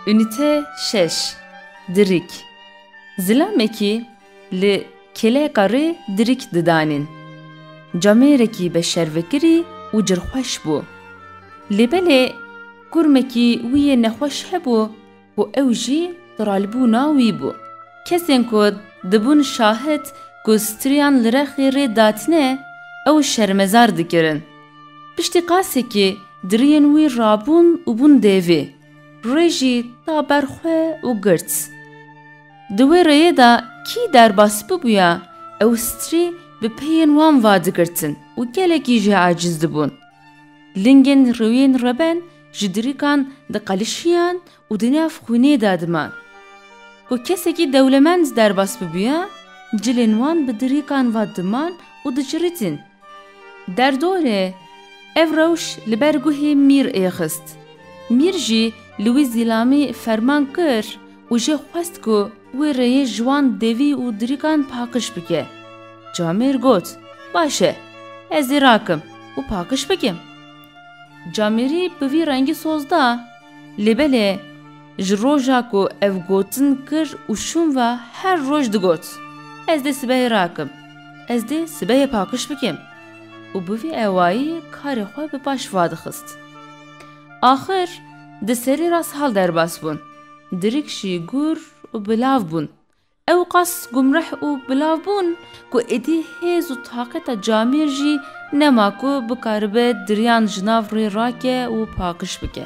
Unîte şeş Dirîk Zilamekî li kêleka rê dirîk didanîn. Camêrekî beşervekirî û cirxweş bû. Lê belê kurmekî wî yê nexweş hebû ku ew jî qiralbûna wî bû. Kesên ku dibûn şahid ku striyan li rexê rê datine ew şermezar dikirin. Piştî qasekê diriyên wî rabûn û bûn dêvê. Rê jî da ber xwe û girt. Di wê rêyê de kî derbas bibûya ew strî bi peyên wan va digirtin û gelekî jî aciz dibûn. Lingên rewiyên reben Ji dirikan diqelişiyan û di nav xwînê de diman. Ku kesekî dewlemend derbas bibûye, cilên wan bi dirikan ve diman û dicirîtin. Derdorê, ev rewş li ber guhê Mîr ê xist. Mîr jî li wî zîlamî ferman kir û jê xwest ku wê rêyê ji wan devî û dirikan pakiş bike. Camêr got, Baş e, ez ê rakim û pakiş bikim. Camîrî bi vî rengî soz da. Lê belê ji roja ku ev gotin kir û şûn ve her roj digot, Ez dê sibehê rakim, ez dê sibehê pakiş bikim û bi vî ewayî karê xwe bi paş va dixist. Axir di serî re sal derbas bûn, dirik jî gûr û bi lav bûn, Ewqas gumreh û bilav bûn ku êdî hêz û taqeta camêr jî nema ku bikaribe diriyan ji nav rê rake û pakiş bike.